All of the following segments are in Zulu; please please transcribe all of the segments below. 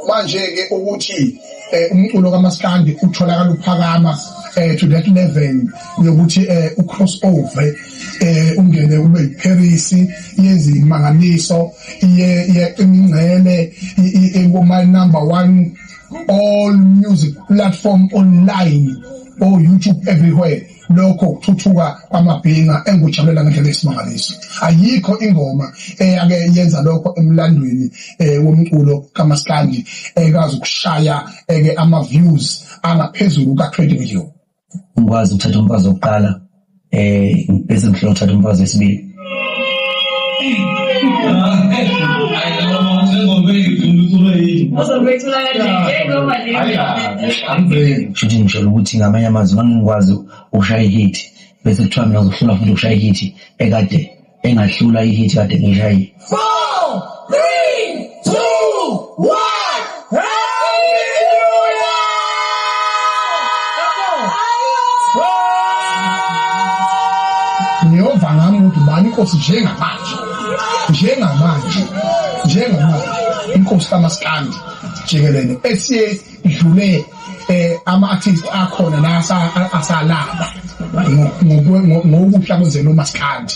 manje-ke ukuthi um umculo kamaskandi utholakala uphakama um to that level yokuthi um u-cross over um ungene ube yipherisi yenze imangaliso iye iyaqimingcele kuma-number one all music platform online or youtube everywhere lokho ukuthuthuka kwamabhinga engikujabulela ngendlela esimangaliso ayikho ingoma eyake yenza lokho emlandweni eh, womculo kamaskandi ekazi ukushaya eke eh, ama views angaphezulu ka 20 million ngikwazi ukuthatha umfazi wokuqala eh bese ngihlola ukuthatha umfazi wesibili Futhi ngisholo ukuthi ngamanye amazwi ngangikwazi ukushaya ihithi bese kuthiwa mina ngizohlula futhi ukushaya ihithi ekade engahlula ihithi kade ngiyishayile. ngiyova ngami ukuthi bani inkosi njengamanje njengamanje njengamanje inkosi kamaskandi jikelele esiye idlule eh ama-artist akhona la asalaba ngokuhla kwenzela umaskandi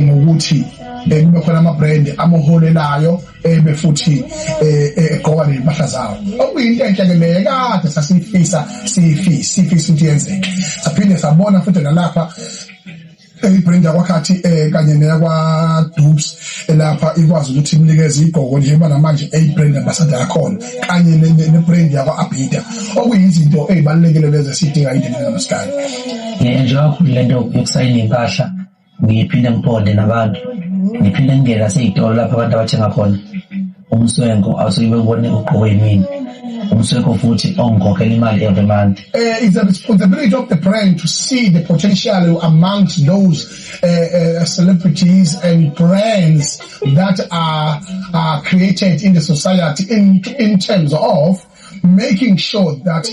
ngokuthi eh, kube khona ama-brand amuholelayo ebe eh, futhi eh, egqoka nezimpahla zawo okuyinto enhle ke leyo kade sasiyifisa siyifisa siyifisa ukuthi yenzeke saphinde sabona futhi nalapha eyibrand yakwakhathi um eh, kanye neyakwadubs elapha eh, ikwazi ukuthi imnikeze igqoko njengoba namanje eyibrand ambasada yakhona kanye nebrand yakwa-abida okuyizinto eyibalulekile lezi esiyidinga indeni namasikayo ngiyenjwa kakhulu le nto yokusayina iy'mpahla ngiphinde ngiphonde nabantu ngiphinde ngingene nasey'tolo lapho abantu abathenga khona umswenko awusuke bebone ugqoke yimini umsweko futhi ongikhokhela imali every month uh, it's the responsibility of the brand to see the potential amongst those uh, uh, celebrities and brands that are, are created in the society in, in terms of making sure that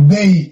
they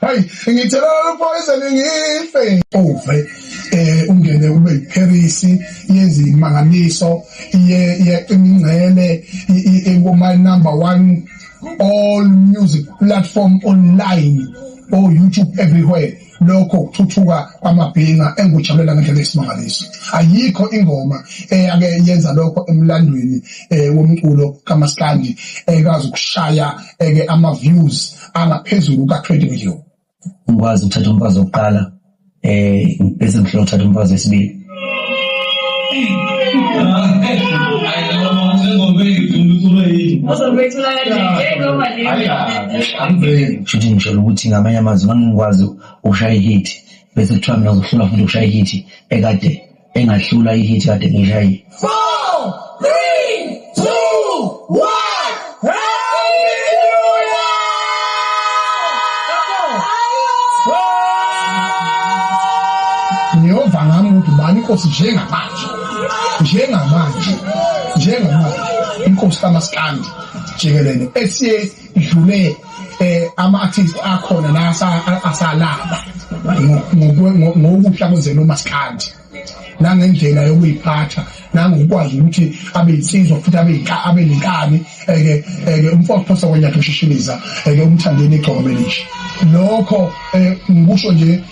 hayi ngithela ukupoyizana ngife uve eh ungene kube yiParis yenza imangaliso iye iyaqina ingcele ingoma number 1 all music platform online or YouTube everywhere lokho ukuthuthuka kwamabhinga engujabulela ngendlela esimangaliso ayikho ingoma eyake yenza lokho emlandweni eh, womculo kamaskandi ekazi ukushaya eke ama views angaphezulu kuka-20 million ngikwazi ukuthatha umfazi wokuqala um bese ngihlola ukuthatha umfazi wesibili shuthi ngisholo ukuthi ngamanye amazwi ngangikwazi ukushaya ihithi bese kuthiwa mina uzohlula futhi ukushaya ihithi ekade engahlula ihit kade ngishayile ngiyova ngami ukuthi bani inkosi njengamanje njengamanje njengamanje inkosi kamaskandi jikelele esiye idlule eh ama artists akhona la asalaba ngokuhla kwenzela umaskandi nangendlela yokuyiphatha nangokwazi ukuthi abe insizwa futhi abe abe nenkani eke eke umfowethu phosa kwenyathi ushishiliza eke umthandeni igcoko melisha lokho eh, ngikusho nje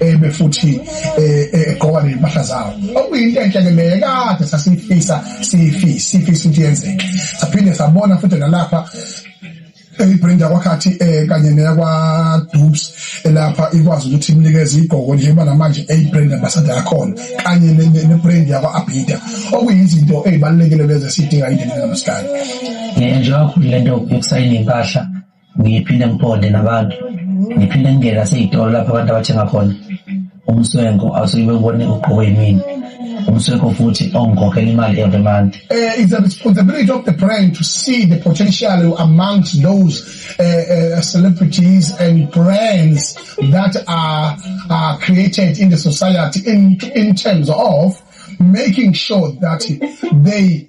ebe futhi eh, eh, egqoka nezimpahla zawo okuyinto enhle ke leyo kade sasifisa sifisa sifisa ukuthi yenzeke saphinde sabona futhi nalapha eyibrand yakwakhathi eh kanye neyakwa Dubs elapha ikwazi ukuthi imnikeze igqoko njengoba namanje eyibrand ambassador yakhona kanye nebrand yakwa Abida okuyizinto ezibalekile lezi sidinga indlela namhlanje nje njengoba khulile nto ukusayina impahla ngiphinde ngiphonde nabantu ngiphinde ngingene nasey'tolo lapho abantu abathenga khona umswenko awusuke bewubone ugqoke yimini umswenko futhi ongikhokhela imali every month uh, it's a responsibility of the brand to see the potential amongst those uh, uh, celebrities and brands that are, are created in the society in, in terms of making sure that they